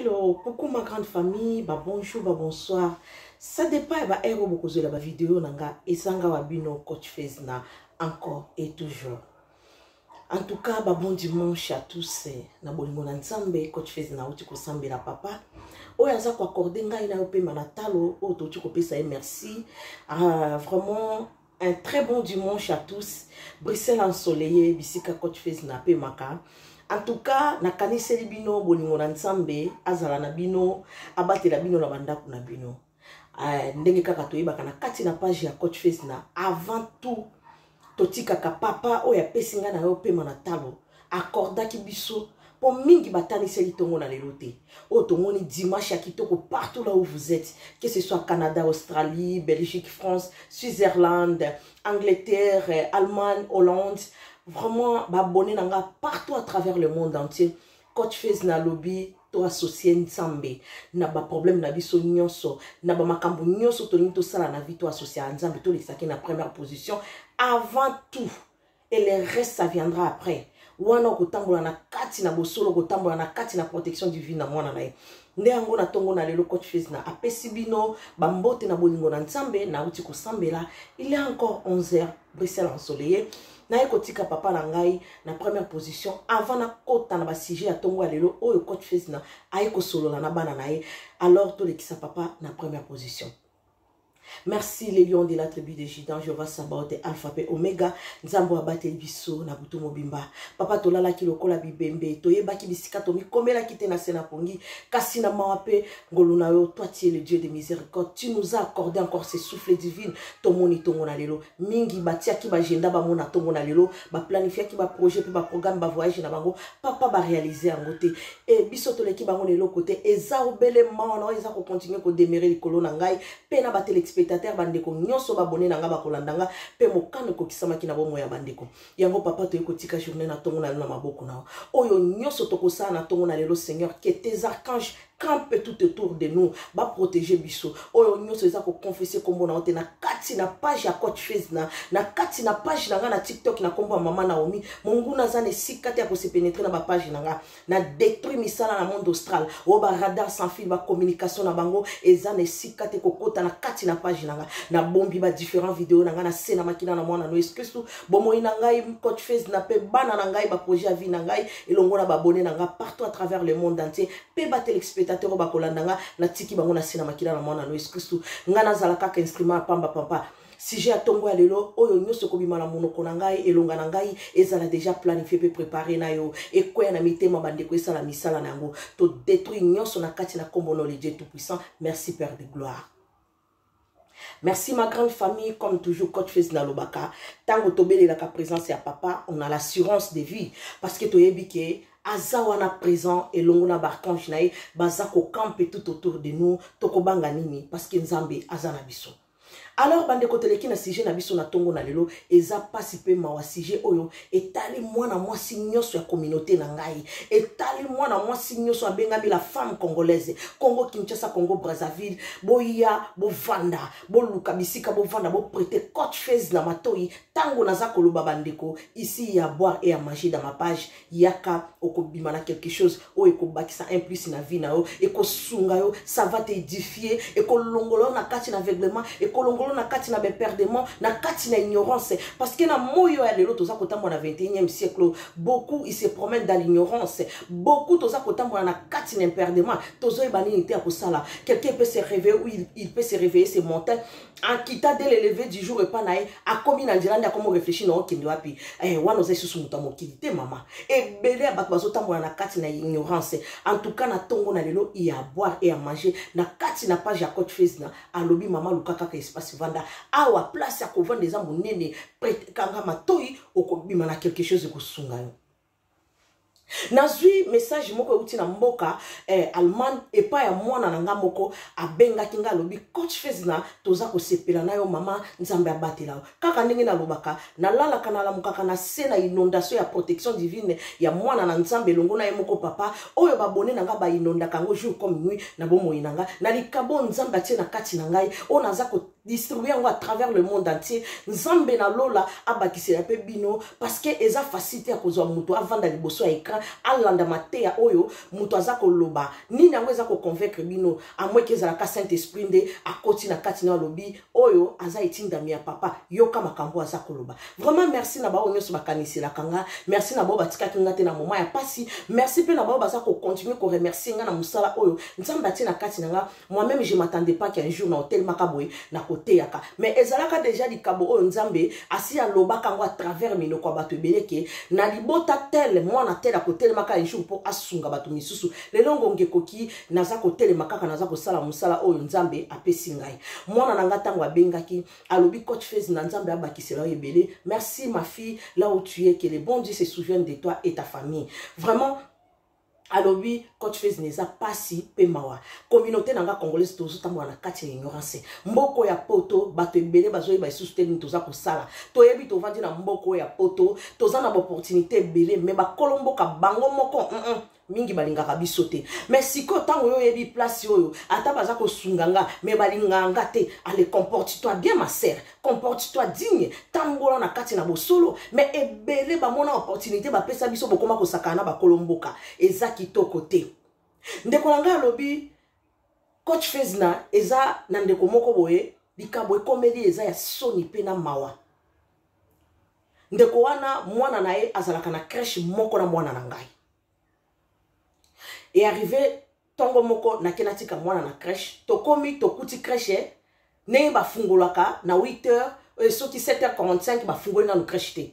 Hello, coucou ma grande famille, ba bonjour, ba bonsoir. Ça dépend ya ba heure oyo bokozwela ba video na nga ezanga wa bino coach Fezna encore et toujours. En tout cas, ba bon dimanche à tous. Na bolingo na Nzambe, coach Fezna auti kosambela papa. Oyo aza ko accorder ngai na yo pema na talo, oyo toti kopesa ye merci. Ah, vraiment Un très bon dimanche à tous. Bruxelles ensoleillé, bisika coach face na pemaka. En tout cas, na kaniseli bino bolingo na Nzambe, azala na bino, abatela bino na bandako na bino. Euh, ndenge kaka toyebaka na kati na page ya coach face na avant tout totikaka papa oyo apesi ngai na yo pema na talo akordaki biso mpo mingi bataniseli ntongo na lelo te oyo tomoni dimanche ya kitoko partout là où vous êtes que ce soit canada australie belgique france switzerland angleterre allemagne hollande vraiment baabonne na nga partout à travers le monde entier coach fase na lobi toassocie nzambe na baproblème na biso nyonso na bamakambo nyonso tolingi tosala na vie toassocia nzambe tolekisaki na première position avant tout et le reste ça viendra après wana okotambola na kati na bosolo okotambola na kati na protection divine na mwana na ye nde yango na ntongo na lelo coach fesna apesi bino bambote na bolingo na nzambe nauti kosambela il y a encore 11 heures bruxelles ensoleille naye kotika papa na ngai na première position avant nakota na basujet ya ntongo ya lelo oyo coach fesna aye kosolola na bana na ye alors tolekisa papa na première position merci le lion de la tribu de judan jehova sabaote alpha mpe omega nzambe oyo abateli biso na butu mobimba papa tolalaki lokola bibembe toyebaki bisika tomikomelaki te na se na pongi kasi na mawa mpe ngolu na yo toi tie le dieu de miséricorde tu nous a accordé encore ce souffle divine tomoni ntongo na lelo mingi batiaki baagenda bango na ntongo na lelo baplanifiaki baprojet mpe baprograme bavoyage na bango papa barealize yango te e biso toleki bango na eloko te eza obele mawana oyo eza kokontinue kodemere likolo na ngai mpe na batelespectateur bandeko nyonso babone na ngai bakolanda ngai mpe mokano ekokisamaki na bomoi ya bandeko yango papa toyei kotika journée na ntongo na lelo na maboko na oyo nyonso tokosala na ntongo na lelo seigneur que tes archanges campe tout autour de nous ba protéger biso oyo nyonso eza ko confesser kombo na ote na kati na page ya coach face na na kati na page na nga na TikTok na kombo ya maman Naomi monguna za ne sika te ko se pénétrer na ba page na nga na détruit misala na monde austral o ba radar sans fil ba communication na bango eza ne sika te ko kota na kati na page na nga na bombi ba différents vidéos na nga na sena makina na mwana no excuse tout bomoyi na ngai coach face na pe bana na ngai ba projet ya vie na ngai elongo na ba abonné na nga partout à travers le monde entier mpe batelespectateur oyo bakolanda nga natiki bango na se na makila na mwana na yesu kristu ngai nazala kaka instrument ya pamba papa sujet ya ntongo ya lelo oyo nyonso ekobima na monoko na ngai elonga na ngai ezala deja planifie mpe prepare na yo ekweya na mitema bandeko esala misala na yango todetruire nyonso na kati na nkombo na olidie tout puissant merci père de gloire Merci ma grande famille, comme toujours coach Fils Nalobaka, tango tobele la présence ya papa, on a l'assurance de vie parce que toyebi que aza wana présent elongo na barcange na ye baza kokampe tout autour de nous tokobanga nini parce que nzambe aza na biso alors bandeko toleki na sujet na biso na ntongo na lelo eza mpasi mpe mawa sujet oyo etali mwana mwasi nyonso ya communauté na ngai etali mwana mwasi nyonso abengami la femme congolaise congo kinshasa congo brazzaville boya bovanda boluka bisika bovanda boprete cote fase na matoi ntango naza koloba bandeko isi ya boire e ya manger dans ma page yaka okobima na quelque chose oyo ekobakisa un plus na vie na yo ekosunga yo ça va t'édifier ekolongola yo na kati na aveuglement ekolongola yo na kati na beperdement na kati na ignorance parce que na moi oyo ya lelo toza kotambola na 21e siècle oyo beaucoup il se promène dans l'ignorance beaucoup toza kotambola na kati na imperdement tozoyeba nini te ya kosala quelqu'un peut se réveiller ou il, il peut se réveiller ce matin akita de l'eleve du jour epa na ye akomi na nzela nde akomi réfléchi na okende wapi eh, wana oza lisusu moto ya mokili te mama ebele ya bato bazotambola na kati na ignorance en tout cas na ntongo na lelo ya boire et ya manger na kati na page ya cote face na alobi mama luka kaka espace vanda awa place ya kovanda eza monene kanga matoi okobima na quelque chose ekosunga yo nazwi message moko euti na mboka eh, allemagne epai ya mwana na ngai moko abengaki ngai alobi coach fezina toza kosepela na yo mama nzambe abatela yo kaka ndenge nalobaka nalalaka nalamukaka na se na inondation ya protection divine ya mwana na nzambe elongo na ye moko papa oyo babone na ngai bainondaka yango jour comme nuit na bomoi na ngai na likabo nzambe atie na kati na ngai oyo naza distribuer yango à travers le monde entier nzambe na lola abakisela mpe bino parce que eza facilité ya kozwa moto avanda liboso ya écran alanda mateya oyo moto aza koloba nini yango eza koconvaincre bino amweki ezalaka saint esprit nde akoti na kati na alobi oyo aza etindami ya papa yoka makambo aza koloba vraiment merci na baoyo nyonso bakaniselaka nga merci na baoyo batikaki nga te na moma ya mpasi merci mpe na baoyo baza kocontinue koremercie nga na mosala oyo nzambe atie na kati na nga moi même je m'attendais pas qu'un jour na otelemaka boye na koteyaka mais ezalaka déjà likambo oyo nzambe asi alobaka yango à travers minoko ya bato ebele ke na libota tele mwana tele akotelemaka un jour mpo asunga bato misusu lelo ngonga ekoki naza kotelema kaka naza kosala mosala oyo nzambe apesi ngai mwana na ngai ntango abengaki alobi coach fez na nzambe abakisela yo ebele merci ma fille là où tu es que le bon dieu se souvienne de toi et ta famille vraiment alobi coach fez na eza pasi mpe mawa communauté na nga congolaise tozotambola na kati ya ignorance mboko ya poto bato ebele bazoyeba lisusu te nini toza kosala toyebi tovandi na mboko ya poto toza na baopportunité ebele me bakolo mboka bango moko mm -mm. mingi balingaka biso te me sikoyo ntango yo oyebi place oyo ata baza kosunga nga me balingaka nga te ale comporte toi bien ma sere comporte toi digne tambola na kati na bosolo mais ebele bamona opportunité bapesa biso bokoma kosakana na bakolo mboka eza kitoko te ndeko na ngai alobi coach fesna eza na ndeko moko boye likambo ekomeli eza ya soni mpe na mawa ndeko wana mwana na ye azalaka na crèche moko na mwana na ngai e arrive ntongo moko nake natika mwana na crèche tokomi tokuti crèche ndenge bafungolaka na 8 heures euh, soki 7 heures 45 bafungoli nanu crèche te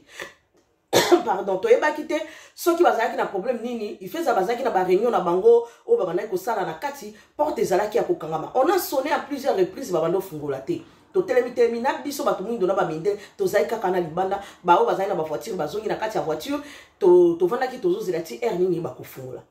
pardon toyebaki te soki bazalaki na problème nini ifeza bazalaki na baréunion na bango oyo babandaki kosala na kati porte ezalaki ya kokangama on a sonné à plusieurs reprises babanda ofungola te totelemi telemi na biso bato moindo na bamindele tozali kaka na libanda baoyo bazali na bavoiture bazongi na kati ya voiture tovandaki to tozozela ti aire nini bakofungola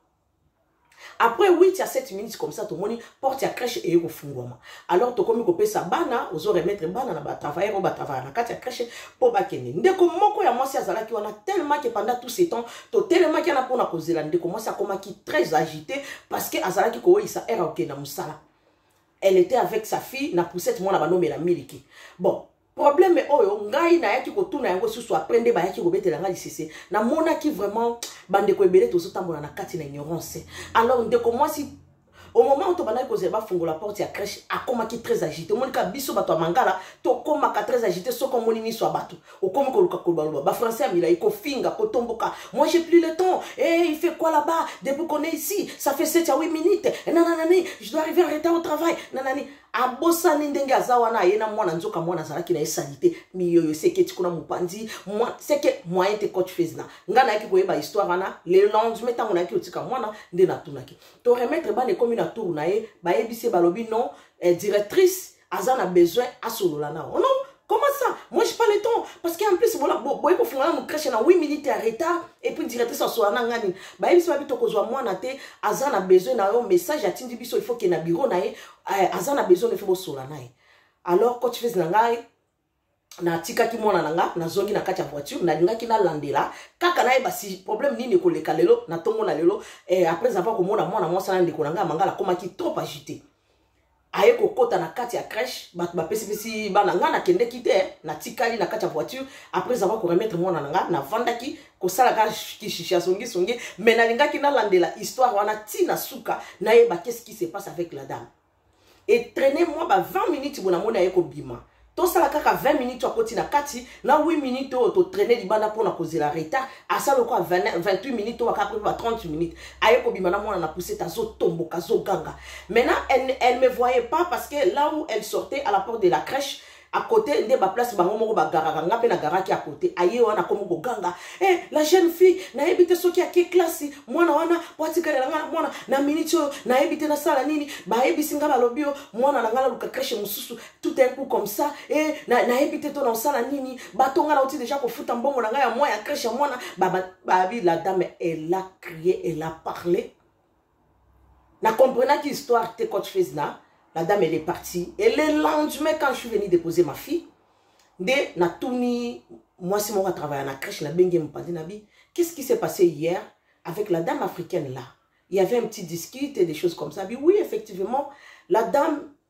après 8 à 7 minutes comme ça tomoni porte ya crèche eye kofungwama alors tokomi kopesa bana ozo remettre bana na batravailleur oyo batravaya na kati ya crèche mpo bakende ndeko moko ya mwasi azalaki wana tellement que pendant tout ce temps totelemaki wana mpona kozela ndeko mwasi akomaki très agité parce que azalaki kooyisa ere okenda mosala elle était avec sa fille na poussette mwana banomela miliki bon probleme oyo ngai nayaki kotuna yango susu apres nde bayaki kobetela ngai lisese namonaki vraiment bandeko ebele tozotambola na kati na ignorance alors ndeko mwasi au moment oyo tobandaki kozela bafungola porte ya crèche akomaki très agité omoni kaka biso bato ya mangala tokomaka très agité soki omoni miso ya bato okomi koluka kolobaloba bafrançais ya milai kofinga kotomboka moi j'ai plus le temps e eh, il fait quoi là-bas depuis qu'on est ici ça fait 7 à 8 minutes nananani je dois arriver en retard au travail nanani abosani ndenge aza wana aye na mwana nzoka mwana azalaki na ye salite miyoyo seke ti kuna mopanzi seke moyen te coach fez na nga nayaki koyeba histoire wana le lendemain ntango nayaki kotika mwana nde natunaki to remettre bana ekomi na tour na ye bayebisi ye balobi non eh, directrice aza na besoin asolola na ono Comment ça Moi, je pas le temps. Parce qu'en plus, voilà, bon, bon, il faut faire mon crèche en 8 minutes en retard. Et puis, directrice, ça soit en gagné. Bah, il faut que soit moi, nate, Azan a besoin d'un message, à Tindi Bisso, il faut qu'il y ait un bureau, nae, Azan a besoin de faire sur la nae. Alors, quand tu fais un nae, natikaki mwana na nga nazongi na kati ya voiture nalingaki nalandela kaka nayeba si problème nini ekoleka lelo na ntongo na lelo eh, après avoir komona mwana mwasi na ndeko na ngai mangala akomaki trop agité aye kokota na kati ya crèche bato bapesipesi bana ngai nakendeki te eh. natikali na kati ya voiture après avoir koremettre mwana na ngai navandaki kosalaka kishisha songisongi mais nalingaki nalandela histoire wana ti na suka nayeba qu'est ce qui se passe avec la dame etraine mwa ba 20 minutes bo namoni aye kobima tosala kaka 20 minutes akoti na kati na 8 minutes oyo totraine libanda mpona kozela retard asala lokola 28 minutes oyo akaka ba 30 minutes aye kobima na mwana na pusete azotomboka azoganga maintenant elle, elle me voyait pas parce que là où elle sortait à la porte de la crèche à côté nde baplace bango moko bagaraka nga mpe nagaraki à côté aye wana akomi koganga e eh, la jeune fille nayebi te soki ake klasi mwana wana po atikalela nga na mwana na miniti oyo nayebi te nasala nini bayebisi nga balobi yo mwana na nga naluka creshe mosusu tout un coup comme ça e eh, nayebi te to na osala nini bato ngai nauti deja kofuta mbongo na ngai ya mwa ya crèche ya mwana babi la dame elle a crié elle a parlé na comprenaki histoire te coach fez na la dame elle est partie et le lendemain quand je suis venu déposer ma fille nde natuni mwasi moko atravaille na crèche nabengi mopandi na bi qu'est-ce qui s'est passé hier avec la dame africaine là il y avait un petit discute et des choses comme ça bi oui effectivement la dame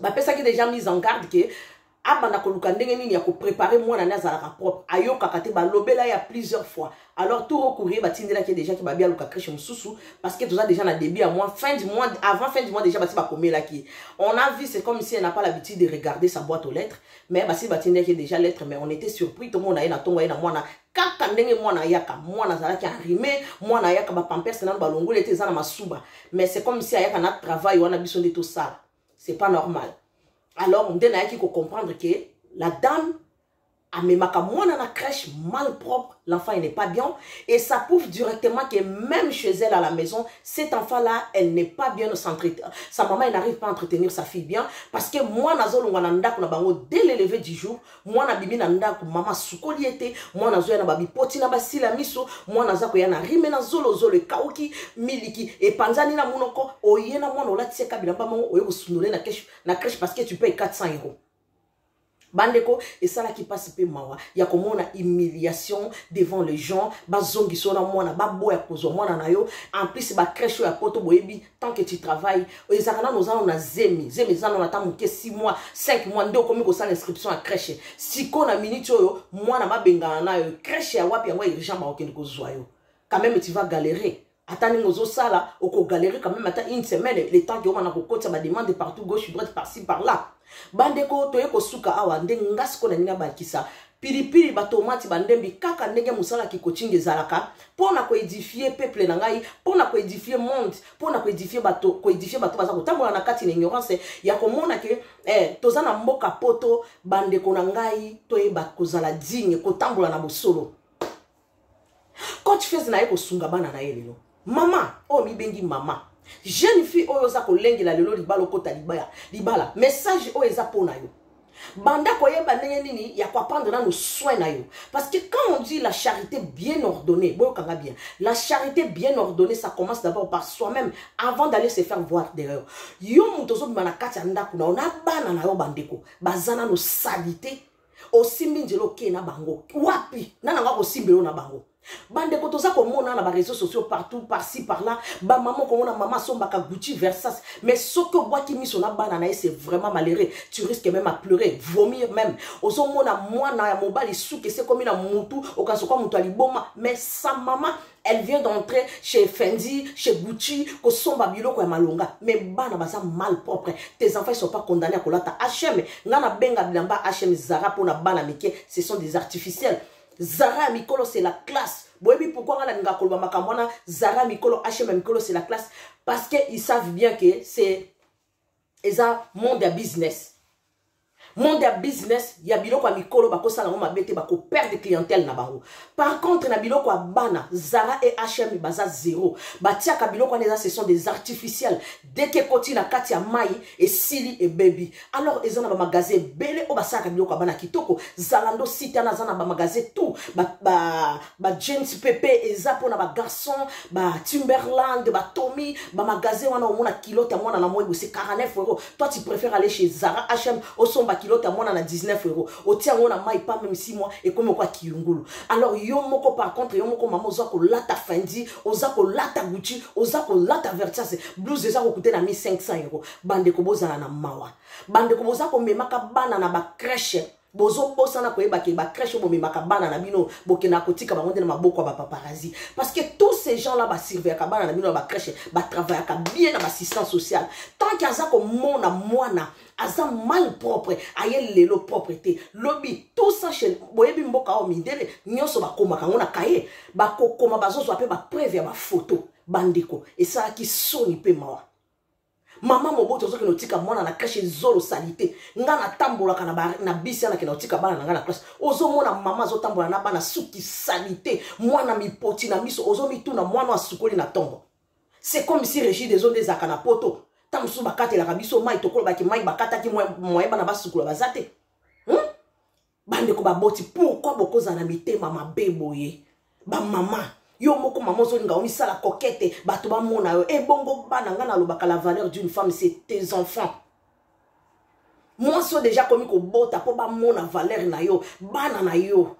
bapesaki deja mise en garde ke abanda koluka ndenge nini ya koprepare mwana nde azalaka propre ayokaka te balobela ya plusieurs fois alors tour courrier batindelaki déjà ke babi aluka crèche mosusu parce que toza déjà na début ya mois fin du mois avant fin du mois déjà basi bakomelaki on a vu c'est comme si elle n'a pas l'habitude de regarder sa boîte aux lettres mais basi batindelaki déjà lettre mais on était surpris tomona ye na ntongo ye na mwana kaka ndenge mwana ayaka mwana azalaki enrime mwana ayaka bapampers nano balongoli ete eza na masuba mais c'est comme si ayaka na travail wana biso nde tosala c'est pas normal alors nde nayaki kocomprendre ke la dame amemaka mwana na crèche mal propre l'enfant il n'est pas bien et ça prouve directement que même chez elle à la maison cet enfant là elle n'est pas bien s'entretenir sa maman elle n'arrive pas à entretenir sa fille bien parce que mwana azolongwa na ndako na bango dès l'élevée du jour mwana abimi na ndako mama asukoli ye te mwana azoya na babipoti na basila miso mwana aza koya na rime na zolozolo ekauki miliki epanzani na monoko oye na mwana olati ye kabila mpa moko oye kosundole na keshe na creshe parce que tu paye 400 euros bandeko esalaki mpasi mpe mawa ya komona humiliation devant les gens bazongiso na mwana baboya kozwa mwana na yo en plus bacreshe oyo ya poto boyebi tant que tu travailles ezalaka nano oza nano na zemi zemi eza nano ata moke 6 mois 5 mois nde okomi kosala inscription ya crèche siko na minute oyo mwana babengana nayo crèche ya wapi yango urgent bakokende kozwa yo quand même tu vas galérer ata ndenge ozosala okogalere quand même ata une semaine le temps keomana kokotisa bademande partout gauche droite parci par là bandeko toye kosuka awa nde nga sikoyo na nini abakisa pilipili batomati bandembi kaka ndenge mosala kikocinga ezalaka mpo na koedifie peuple na ngai mpo na koedifie monde mpo na koedifie bato koedifie bato baza kotambola na kati na ignorance ya komona ke eh, toza na mboka poto bandeko na ngai toyeba kozala digne kotambola na bosolo coach fez na ye kosunga bana na ye lelo mama oyo mibengi mama jeune fille oyo oza kolengela lelo libala okota libaya libala message oyo eza mpo na yo banda koyeba ndenge nini ya koapprendre nano soin na yo parce que quand on dit la charité bien ordonnée boyokanga bien la charité bien ordonnée ça commence d'abord par soi-même avant d'aller se faire voir derrière yo moto ozobima na kati ya ndako na yo na bana na yo bandeko baza nano salite osimbi nzela okee na bango wapi na nanga kosimbelo na bango bandeko toza komona na bareseau sociaux partout parci parla bamama okomona mama asombaka gucci versas mais soki obwaki miso na bana na ye c'est vraiment malheureux tu risque même à pleurer vomir même ozomona mwana ya mobali suki esekomi na mutu okasoka moto ya liboma mais sa mama elle vient d'entrer chez Fendi, chez Gucci, kosomba biloko ya malonga. Mais bana baza mal propre. Tes enfants ils sont pas condamnés à kolata HM. Nana benga bilamba HM Zara pona bana mike, ce sont des artificiels. Zara mikolo c'est la classe. Boyebi pourquoi ngana ninga koloba makambo wana Zara mikolo HM mikolo c'est la classe parce que ils savent bien que c'est eza monde ya business monde ya business ya biloko ya mikolo bakosala yango mabe te bakoperdre clientèle na bango par contre na biloko ya bana zara e hm baza zero batiaka biloko wana eza ce sont des artificiels deke ekoti na kati ya mai esili ebebi alors eza na bamagasin ebele oyo basalaka biloko ya bana kitoko zalando site wana aza na bamagasin tout ba, ba, ba james pepe eza mpona bagarçon ba timberland batomi bamagasin wana omona kilote ya mwana na moi bose 49 euro toi tu préfère aller chez zara hm osomba kilote ya mwana na 19 euro otia yango na mai pa meme si moi ekomi okwa kiyungulu alors yo moko par contre yo moko mama oza kolata fendi oza kolata gucci oza kolata vertiase blouse eza kokute na 1500 euro bandeko bozala na mawa bandeko boza komemaka bana na bacreche bozobosana koyeba ke bacrèche bomemaka bana na bino bokendaka kotika bango nde na maboko ya bapaparazi parce que tous ces gens là basurveillaka bana na bino na bacrèche batravaillaka bien na bassistance sociale tant ke aza komona mwana aza mal propre aye lelo propre te lobi tout ça chez boyebi mboka oyo mindele nyonso bakomaka yango na kaye bakokoma bazozwa mpe bapreuve ya bafoto bandeko esalaki soni mpe mawa mama moboto ozokende otika mwana na kashe zolo salite nga natambolaka na, na bisi ana kende otika bana na nga na classe ozomona mama azotambola na bana suki salite mwana mipoti na miso ozomituna mwana asukoli na ntongo c'est comme si régide ezo nde ezalaka na poto ntango mosusu bakatelaka biso mai tokolobaki mai bakataki moye bana basukola baza te bandeko baboti pourkui bokozala na mitema mabe boye bamama yo moko mama ozolinga omisala kokete bato bamona yo ebongo eh, bana ngai nalobaka la valeur d'une femme c'est tes enfants mwasi oyo deja akomi kobota mpo bamona valeur na yo bana na yo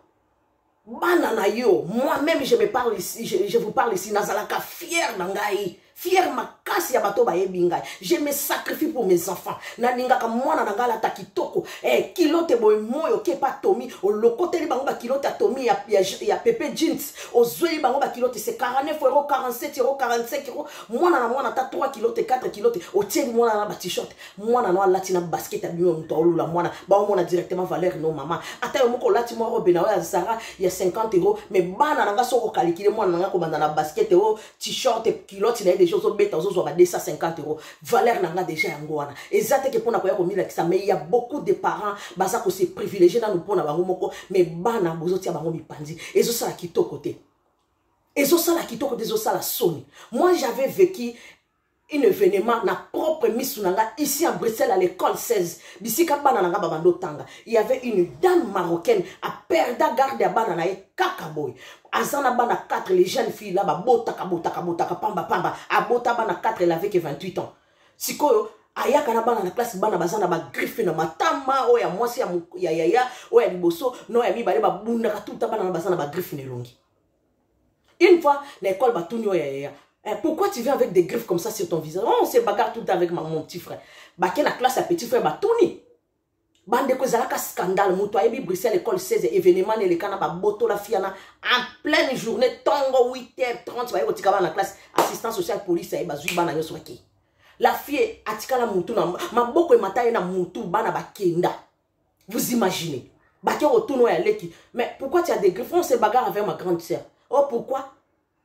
bana na yo moi même je me parle ici je, je vous parle ici nazalaka fier na ngai fier makasi ya bato bayebi ngai je me sacrifie pour mes enfants nalingaka mwana na ngai alata kitoko eh, kilote boye moi oke pa tomi olokoteli bango bakilote ya tomi ya, ya, ya pepe jeans ozweli bango bakilote se 49 euro 47 euro 45 euro mwana na mwana ata 3 kilote 4 kilote otieli mwana na batishort mwana no alati na basket ya bino moto aolula mwana baomona directement valeur no mama ata yo moko olati mwa robe na yo ya zara ya 50 euro mais bana na nga soki okalikile mwana na nga kobanda na basket o oh, t-shirt e kilote na ye deja ozobeta ozozwa ba 250 euro valeur na nga deja yango wana eza teke mpo na koya komilakisa mais ya beaucoup de parents baza kose privilégie nanu mpo na bango moko mais bana bozotia bango mipanzi ezosala kitoko te ezosala kitoko te ezosala soni moi j'avais vécu un événement na propre misu na nga ici en bruxelles à l'école 16 bisika bana na nga babanda otanga il y avait une dame marocaine aperda garde ya bana na ye kaka boye aza na bana 4 les jeunes filles la babotaka botaka botaka pamba pamba abota bana 4 elle avait que 28 ans sikoyo ayaka na bana na classe bana baza na bagriffe na matama oyo ya mwasi ya yaya oyo ya liboso na oyo ya mibale babundaka tuta bana na baza na bagriffe na elongi Une fois, na école, bah, tout ya ya. Eh, pourquoi tu viens avec des griffes comme ça sur ton visage oh, On se bagarre tout le temps avec ma, mon petit frère. Bah, la classe, à petit frère, bah, tout ni. Bande ko ezalaka scandale, moto ayebi Bruxelles école 16 événement eleka na baboto la fiana en pleine journée tongo 8h30 baye kotika bana classe assistant social police aye bazui bana nyonso bake. La fille atikala mutu na maboko emata ye na mutu bana bakenda. vous imaginez bake kotuna oyo aleki mais pourquoi tu as des griffes on se bagarre avec ma grande sœur oh pourquoi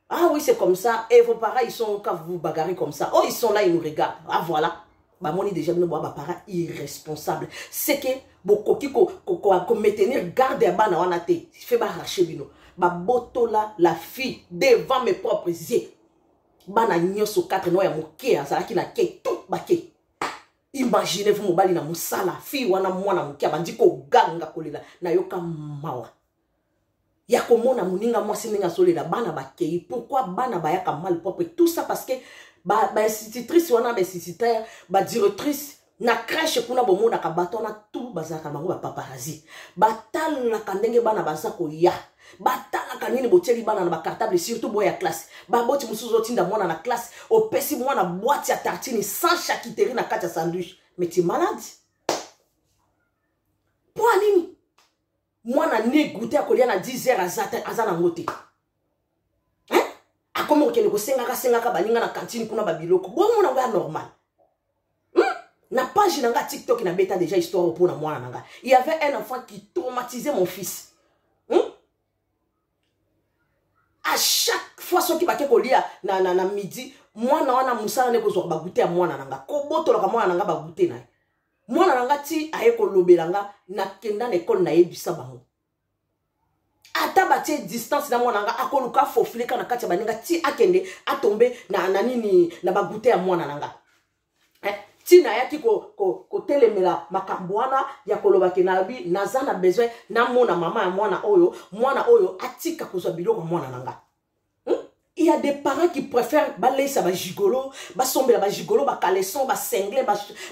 ah oui c'est comme ça et vos parents ils sont quand vous vous bagarrez comme ça oh ils sont là ils nous regardent ah voilà bamoni déjà bino boa baparent irresponsable seke bokoki komaintenir ko, ko, ko garde ya bana wana te fe barashe bino babotola la fille devant mes propres yeux bana nyonso 4 no ya moke azalaki na ke tout bake Imaginez vous mobali na musala, fille wana mwana mukia bandi ko ganga kolela na yoka mawa. Ya komona muninga mwasi ndenge azolela bana bakei pourquoi bana bayaka mal propre tout ça parce que ba ba institutrice wana ba instituteur ba directrice na crèche kuna bomonaka bato wana tout bazalaka bango ba paparazzi batalaka ndenge bana baza koya batalaka nini botieli bana na bacartable surtout boya classe baboti mosusu ozotinda mwana na classe opesi mwana bwati ya tartini sans chakiteri na kati ya sandwich mais ti malade mpo ya nini mwana ne goute ya kolia na 10 heure aza te aza nango te akomi kokende kosengaka sengaka baninga na kantine kuna babiloko bomona yango ya normal hmm? na page na nga tiktok na beta déjà histoire mpo na mwana na nga il y avait un enfant qui traumatisait mon fils hmm? à chaque fois soki bake kolia na, na, na midi mwana wana mosala nde kozwaka bagute ya mwana na nga kobotolaka mwana na nga bagute na ye mwana na nga ti aye kolobela nga nakenda na ekole nayebisa bango ata batie distance na mwana nga akoluka afofile kaka na kati ya baninga ti akende atombe na, na nini na bagute ya mwana na nga eh? ntina ayaki kotelemela ko, ko makambo wana ya koloba ke nabi naza na besoin namona mama ya mwana oyo mwana oyo atika kozwa biloko ya mwana na nga il y a des parents qui préfèrent baleisa bagigolo basombela bagigolo bacaleson basengle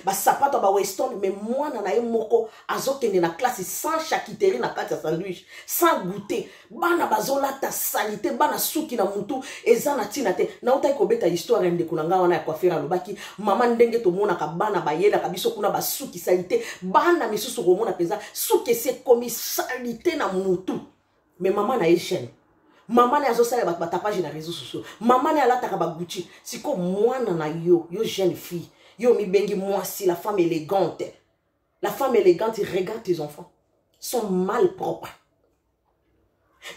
basapato ba weston mais mwana na ye moko azokende na classe sans chakiteri na kati ya sandwich sans goûter bana bazolata salite bana suki na mutu eza na ntina te nautaki kobeta histoire ya ndeko na ngai wana ya coiffere alobaki mama ndenge tomonaka bana bayelaka biso kuna basuki salite bana misusu komona mpenza suki esi ekomi salite na mutu mais mama na ye chaîne mama naye azosala bato batapage na réseau sociaux mama naye alataka baguti siko mwana na yo yo jeune fille yo omibengi mwasi la femme élégante la femme élégante regarde tes enfants sont mal propres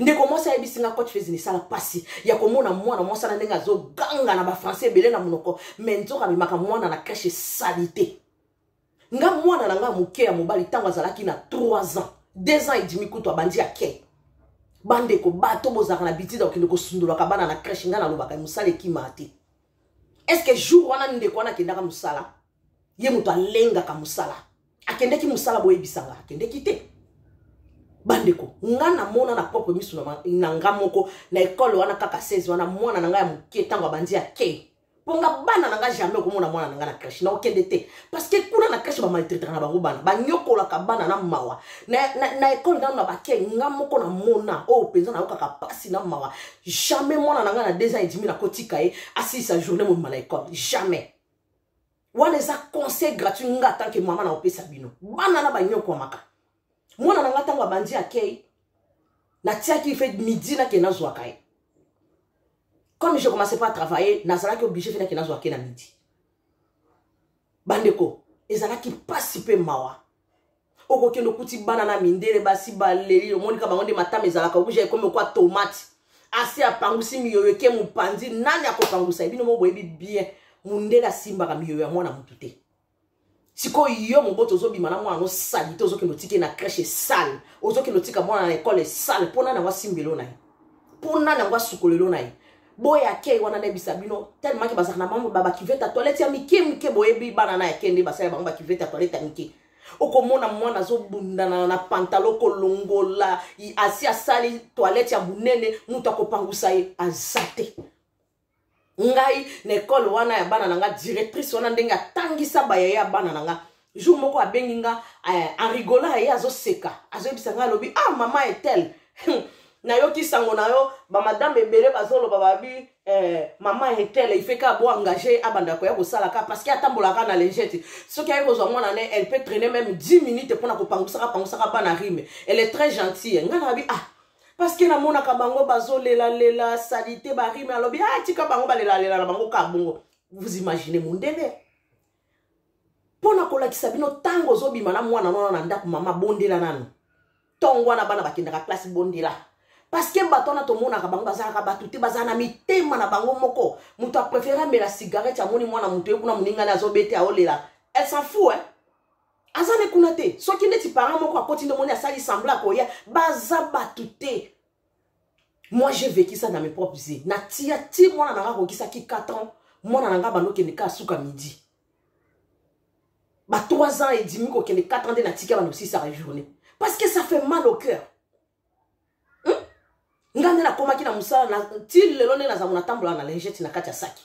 ndeko mwasi ayebisi nga coach fezini esala mpasi ya komona mwana mwasi na ndenge azoganga na bafrançais ebele na monoko me nzoka amemaka mwana na crèche esalite nga mwana na nga moke ya mobali ntango azalaki na 3 ans 2 ans edimi kutu abandi ake bandeko bato bozalaka na bitida kokende kosundolaka bana na crèche ngai nalobaka mosala ekimaa te estce jour wana ndeko wana akendaka mosala ye moto alengaka mosala akendeki mosala boyebisa nga akendeki te bandeko nga namona na propre miso na nga moko na ekole wana kaka 16 wana mwana na ngai ya moke ntango abandi ake mpo nga bana na nga jamais okomona mwana na nga na crèche naokende te parce que kuna na crèche bamaltraitaka na bango bana banyokolaka bana na mawa na, na, na ekole nano na bake nga moko na mona oyo oh, mpenza nayokaka mpasi na mawa jamais mwana na nga na deux ans edimi nakotika ye asilisa journée mobima na ekole jamais wana eza conseil gratuit nga tant que mama naopesa bino bana na banyokwamaka mwana na nga ntango abandi akei natiaki fe midi nake nazwaka ye comme je commençais pas à travailler nazalaki oblige fe nake nazwaka ye na midi bandeko ezalaki mpasi mpe mawa okokende okuti bana na mindele basi baleli omoni ka bango nde matama ezalaka rouge ekomi okwa tomate asi apangusi miyoyo eke mopanzi nani akopangusa ebino mo boyebi bien mondele asimbaka miyoyo ya mwana motu te sikoyo yo moboto ozobima na mwana nosali te ozokende otike na crèche esale ozokende otika mwana na ekole esale mpo nani yango asimbelo na ye mpo nani yango asukolelo na ye boye akei wana nayebisa bino telemaki bazalaka na mambo babakivete ya toilette ya mike mike boyebi bana na yake nde basala bango bakivete ya toilette ya mike okomona mwana azobundana na pantalo kolongola asi asali toilette ya monene moto akopangusa ye aza te ngai na ekole wana ya bana na ngai directrice wana ndenge atangisa bayaya ya bana na ngai jour moko abengi nga eh, en rigolant aye azoseka azoyebisa nga alobi ah mama etel nayoki sango na yo bamadame ebele bazoloba babi eh, mama etel ifeka abo engage abanda koya kosala ka parce que atambolaka na lengete soki aye kozwa mwana ne elle peut traîner même 10 minutes mpona kopangusaka pangusaka bana rime elle est très gentille nga nabi ah parce que namonaka bango bazolelalela salite barime alobi ah tika bango balelalela na bango ka bongo vous imaginez mondele mpo na kolakisa bino ntango ozobima na mwana nona na ndako mama bondela nanu ntongo wana bana bakendaka klasi bondela parceke bato wana tomonaka bango bazalaka bato te bazala na mitema na bango moko moto aprefere amela cigarette amoni mwana moto ye kuna moningani azobete aolela elle s'en fou eh? aza ne kuna te soki neti parent moko akoti nde omoni asali sembla akoya baza bato te moi j'ai vécu ça dans mes propres yeux na tia ti mwana na nga akokisaki 4 ans mwana na nga bandokende kaka suka midi ba 3 ans edimi kokende 4 ans nde natika bana osisaka journée parce que ça fait mal au cœur hmm? nga nde nakomaki na mosala ti lelo nde nazango natambolaka na lingete na kati ya saki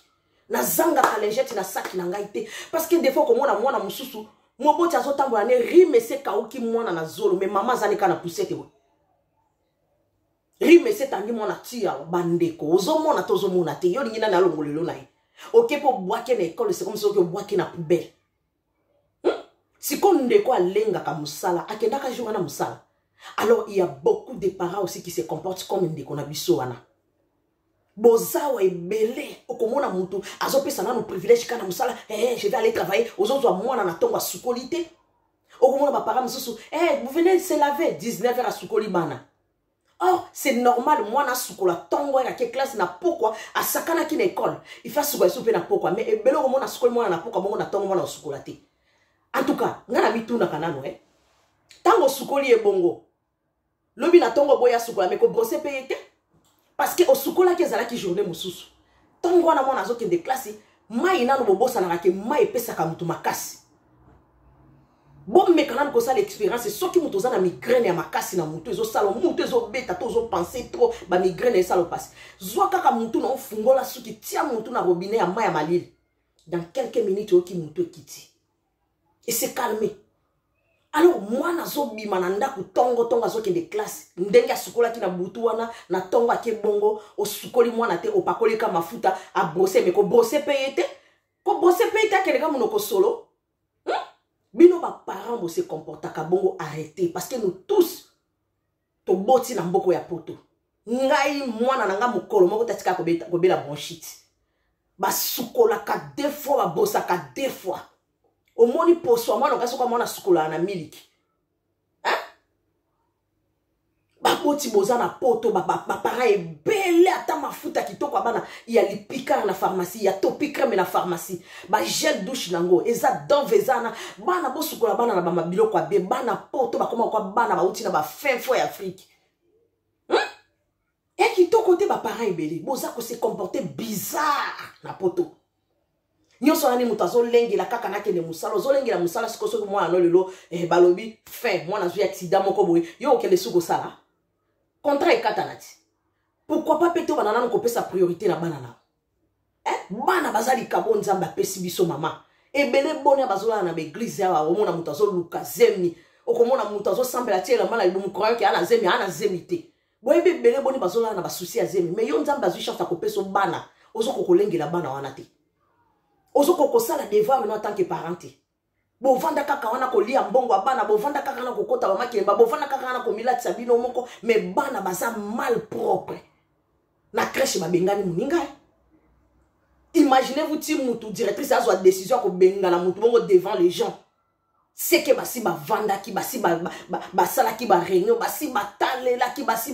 nazangaka lingete na saki na ngai te parce que defo komona mwana mosusu moboti azotambola ne rime ese kauki mwana na zolo me mama azali kaka na pusete boye rime esi etangi mwana tia bandeko ozomona to ozomona te yo olingi nani alongolelo na ye oke mpo obwaki na ekole sikoyo mosi oke obwaki na poubele hmm? sikoyo ndeko alengaka mosala akendaka jour wana mosala alors il y a beaucoup de parents aussi qui se comportent comme ndeko na biso wana bozawa ebele okomona motu azopesa nano privilège kaka na mosala hey, eh, je vais aller travailler ozozwa mwana na ntongo asukoli te okomona bapara mosusu eh, vous venez se laver 19 heure asukoli bana or c'est normal mwana asukola ntongo ayaki eklase na pokwa asakanaki na ekole ifa asukola esu mpe na pokwa mais ebele okomona asukoli mwana na pokwa bongo na ntongo mwana osukola te en tout cas ngai namitunaka nano e eh. ntango osukoli ye bongo lobi na ntongo boya sukola me kobrose mpe ye te parce que osukolaki ezalaki journée mosusu ntongo wana mwana azokende klasi mai nano bobosanaka ke mai epesaka moto makasi bomeka nanu kosala expérience soki moto oza na migraine ya makasi na motu ezosala motu ezobeta to ozopense trop bamigraine esala mpasi zwa kaka motu na ofungola suki tia motu na robinet ya mai ya malili dans quelques minutes oyoki motu ekiti et se calmer alors mwana azobima na ndako ntongo ntongo azokende classe ndenge asukolaki na butu wana na ntongo ake bongo osukoli mwana te opakoli ka mafuta abrose me kobrose mpe ye te kobrose mpe ye te akende ka monoko solo hmm? bino baparent bose comportaka bongo arrete parce que nous tous toboti na mboko ya poto ngai mwana na ngai mokolo moko tatika kobela bronchite basukolaka de fois babosaka de fois omoni poso ya mwana okai soki amwana sukolaka na miliki baboti boza na poto bapara ebele ata mafuta kitoko ya bana ya lipikar na pharmacie ya topicreme na pharmacie ba gel douche nango eza dove eza na bana bosukola bana na bama biloko ya be bana poto bakoma kwa bana bauti na bafin fo ya afrike hmm? e kitoko te baparent ebele boza kose comporte bizarre na poto nyonso wana ni moto azolengela kaka nakende mosala ozolengela mosala sikoyo soki mwana no lelo eh, balobi fin mwana azwi aksida moko boye yo okende su kosala contrat ekatana ti pourkui pa mpe tobana nano kopesa priorité na bana nao eh, bana baza likabo nzambe apesi biso mama ebele bonia bazolala na baeglize yawa omona moto azoluka zemi okomona moto azosambela ti elamba na libumu croyant ke ana zemi ana zemi te boyebi ebele boni bazolala na basusi ya zemi mai yo nzambe azwi chance akopesa bana ozokokolengela bana wana te ozokoki kosala devoir no atanke parent te bovanda kaka wana kolia mbongo ya bana bovanda kaka wana kokota bamakelemba bovanda kaka wana komilatisa bino moko me bana baza mal propre na crèche babengani moninga imaginez-vous ti mutu directrice azwa décision ya kobengana mutu bongo devant les gens seke basi bavandaki basi basalaki ba, ba, ba bareunion basi batalelaki basi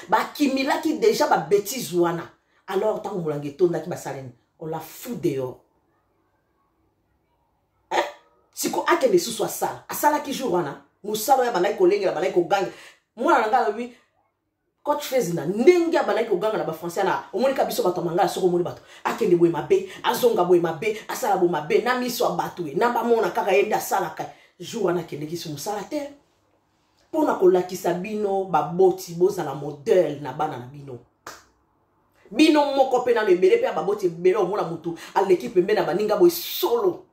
bakimilaki ba, ba, ba deja babétise wana alors ntango molangi etondaki basalani on la fou dehors eh? siko akende lisusu asala asalaki jour wana mosala oyo abandaki kolengela abandaki koganga mwana na ngai alobi coach fezina ndenge abandaki koganga na bafrançais na omonika biso bato ya mangala soki omoni bato akende boye mabe azonga boye mabe asala boye mabe na miso ya bato ye na bamona kaka ye nde asalaka jour wana akendeki so mosala te mpo na kolakisa bino baboti bozala modele na bana na bino bino moko mpe nano ebele mpe ya baboti ebele omona motu aleki pembe na baninga boye solo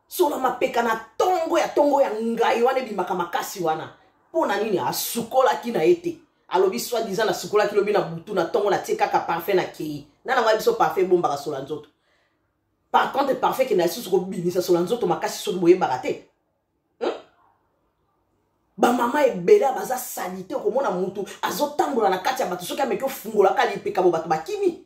solo mapeka na ntongo ya ntongo ya ngai wana ebimaka makasi wana mpo na nini asukolaki na ye te alobi soi disant nasukolaki lobi na butu na ntongo natie kaka parfum na kei na nango ya biso parfum ebombaka sola nzoto par contre parfum ekenda lisusu kobimisa sola nzoto makasi soki boyebaka te bamama ebele baza salite okomona mutu azotambola na kati ya bato soki ameki ofungolaka lipekabo bato bakimi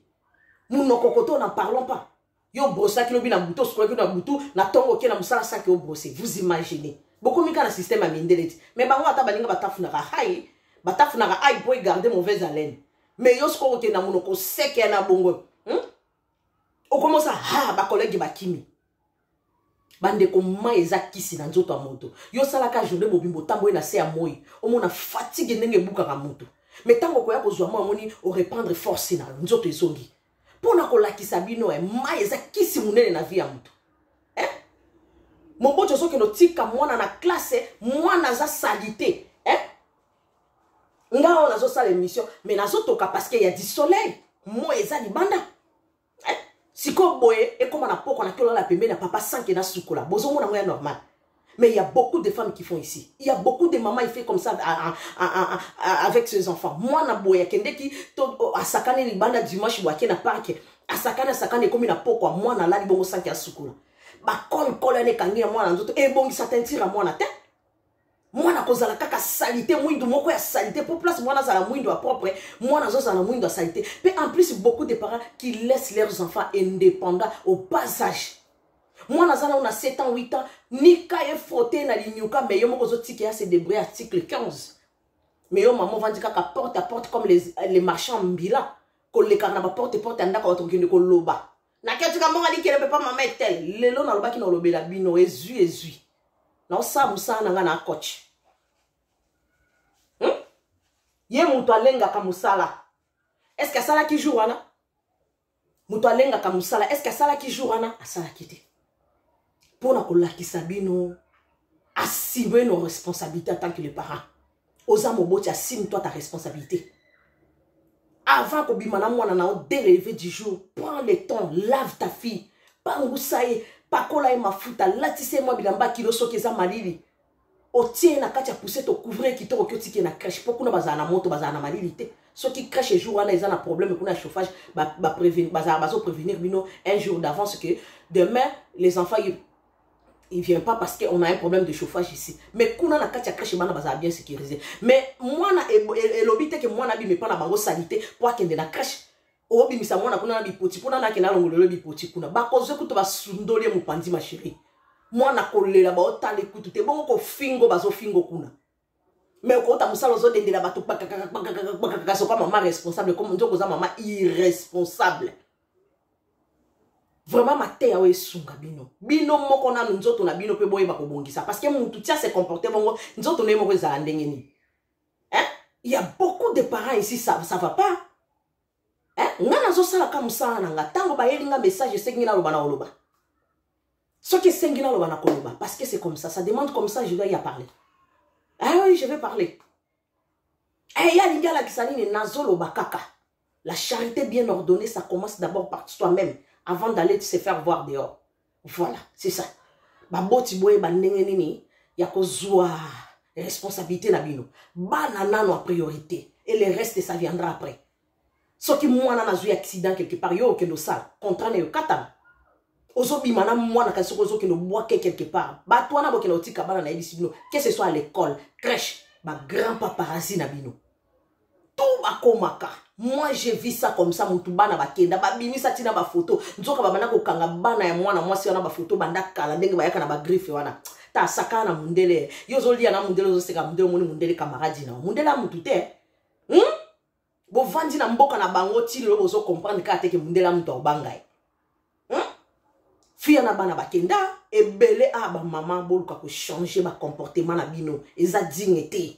monoko koto na parlons pas yo obrosaki lobi na butu osukolaki na butu na ntongo oke na mosala saki obrose vous imaginez bokomi kaka na système ya mindele ti mais bango ata balinga batafunaka hai batafunaka hai mpo egarde mauvaise haleine mais yo sikoyo okende na monoko seke ya na bongo hmm? okomosa ha bakolege bakimi bandeko mai eza kisi na nzoto ya moto yo osalaka journée mobimbo otamboli na se ya moi omona fatigue ndenge ebukaka moto me ntango okoya kozwa moi omoni orepandre force na yo nzoto ezongi mpo na kolakisa bino e eh, mai eza kisi monene na vie ya moto eh? moboti ozokende otika mwana na klase eh, mwana aza salite eh? nga oyo nazosala émission me nazotoka parce que ya du soleil moi eza libanda sikoyo boye ekoma na poko na kiolala pembeni ya papa sanke na sukola bozomona yango ya normal mais il y a beaucoup de femmes qui font ici il y a beaucoup de mamans il fait comme ça à, à, à, à, avec ses enfants mwana boye akendeki to asakani libanda dimanche boye ake na parke asakani asakani ekomi na pokwa mwana alali bongo sanke ya sukola bakolkola ane ekangi ya mwana nzoto ebongisa tentire ya mwana te mwana akozala kaka salite mwindu moko ya salite mpo place mwana azala mwindu ya propre mwana azozala mwindu ya salite mpe en plus beaucoup de parents qui laissent leurs enfants indépendants au bas âge mwana aza nao na 7 ans 8 ans nika ye frote na linyuka me yo moko ozotika ya se débrouille article 15 me yo mama ovandi kaka porte à porte comme les, les marchands mbila kolekaka na baporte porte ya ndako bato kokende koloba naketuka mbongo alikele mpe pa mama etel lelo nalobaki na olobela bino ezwi ezwi naosala mosala na ngai na akoche hmm? ye moto alengaka mosala eske asalaki jour wana moto alengaka mosala eske asalaki jour wana asalaki te mpo na kolakisa bino assume nos responsabilités en tant que les parents oza moboti assume toi ta responsabilité avant kobima na mwana na yo dès le lever du jour prends le temps lave ta fille pangusa ye pakola ye mafuta latisa ye mwa bilamba kilo soki eza malili otie ye na kati ya poussette ocouvrir kitoko ki otiki ye na crèche mpo kuna bazala na moto bazala na malili te soki crèche jour wana eza na problème kuna ya chauffage bazala bazoprevenir bino un jour d'avance que demain les enfants il vient pas parce qu'on a un problème de chauffage ici mais kuna na kati ya crèche bana bazala bien sécurisé mais mwana elobi te ke mwana abimi epa na bango salite mpo akende na crèche obimisa mwana kuna na bipoti mpona nake nalongolelo bipoti kuna bakozwe kutu basundoli ye mopanzi masheri mwana kolela baotali kutu te bongo kofingo bazofingo kuna me okouta mosala ozodendela bato kpakakakakpakakakpakaka soka mama responsable comme nzoka oza mama irresponsable vraiment mateya oyo esunga bino bino moko nanu nzoto na bino mpe boyeba kobongisa parce que mutu tia se comporte bongo nzoto na ye moko ezala ndenge nini hein? il y a beaucoup de parents ici ça, ça va pas hein? nga nazosalaka mosala na nga ntango bayeli nga message esengi naloba na oloba soki esengi naloba na koloba parce que c'est comme ça ça demande comme ça je dois y a parler ah oui je vais parler eh, ye alingi alakisa nini nazoloba kaka La charité bien ordonnée, ça commence d'abord par soi-même, avant d'aller se faire voir dehors. Voilà, c'est ça. Baboti boye ba ndenge nini ya kozua responsabilité na bino. Bana nano en priorité et le reste ça viendra après. Soki mwana nazui accident quelque part yo okendo sala, contrat na yo katana. ozobima na mwana kasi soki ozokende obwake quelque part bato wana bokenda otika bana nayebisi bino que ce soit à l'école crèche bagrand paparasi na bino tout bakomaka moi je vis ça comme ça mutu bana bakenda babimisa ntina bafoto nzoka babanda kokanga bana ya mwana mwasi wana bafoto banda kala ndenge bayaka na bagriffe wana ta sakana na mundele yo ozolia na mundele ozoseka mundele omoni mundele kamaradi na mundele ya mutu te hmm? bovandi na mboka na bango ti lelo bozo comprendre kaka te ke mundele ya mutu akobanga ye hmm? fiya na bana bakenda ebele a ah, bamama boluka kochange bacomportement na bino eza digne te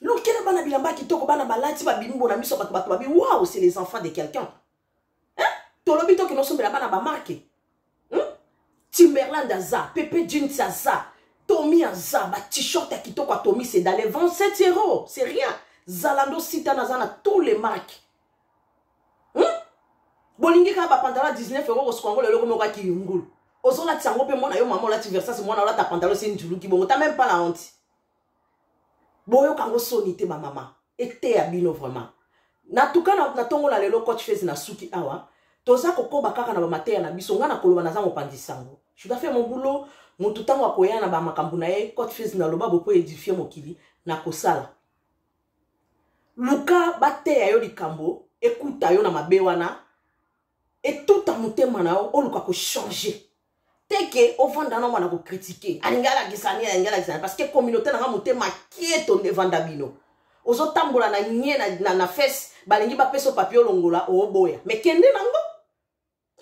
lukela bana bilamba ya kitoko bana balati babimi bona miso bato bato babi wow c'est les enfants de quelqu'un hein? tolobi tokende osombela bana bamarke hmm? timberland aza pepe jeans aza tomi aza batishort ya kitoko ya tomi sedale 27 euro c'est rien zalando sitana aza na tous les marques hmm? bolingi kaka bapandala 19 euro kosuka yango lelo komoko aki yungulu ozolatisa yango mpe mwana yo mama olati versas mwana olata pantalo se njuluki bongo ta meme pas la honte boyoka yango soni te bamama eteya bino vraiment natuka natongola lelo coach fez na suki awa toza kokoba kaka na bamateya na biso ngai nakoloba naza mopanzi sango judafe mobulo motu ntango akoya na bamakambo na ye coach fez naloba bopo edifie mokili nakosala luka bateya yo likambo ekuta yo na mabe wana etuta motema na yo oluka kochange te ke ovanda na mwana kokritike alingi alakisa nini alingi alakisa nini parce que communauté nanga motema kieto nde evanda bino ozotambola na nye na, na, na fese balingi bapesa papier olongola oboya me kende nango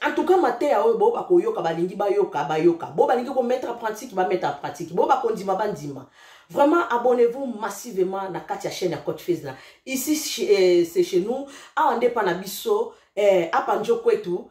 en tout cas mateya oyo bo bakoyoka balingi bayoka bayoka bo balingi komettre en pratique bamettre en pratique bo bakondima bandima vraiment abonnez-vous massivement na kati ya chaîne ya cote fils na ici eh, c'est chez nous awa nde mpa na biso eh, apa njo kwetu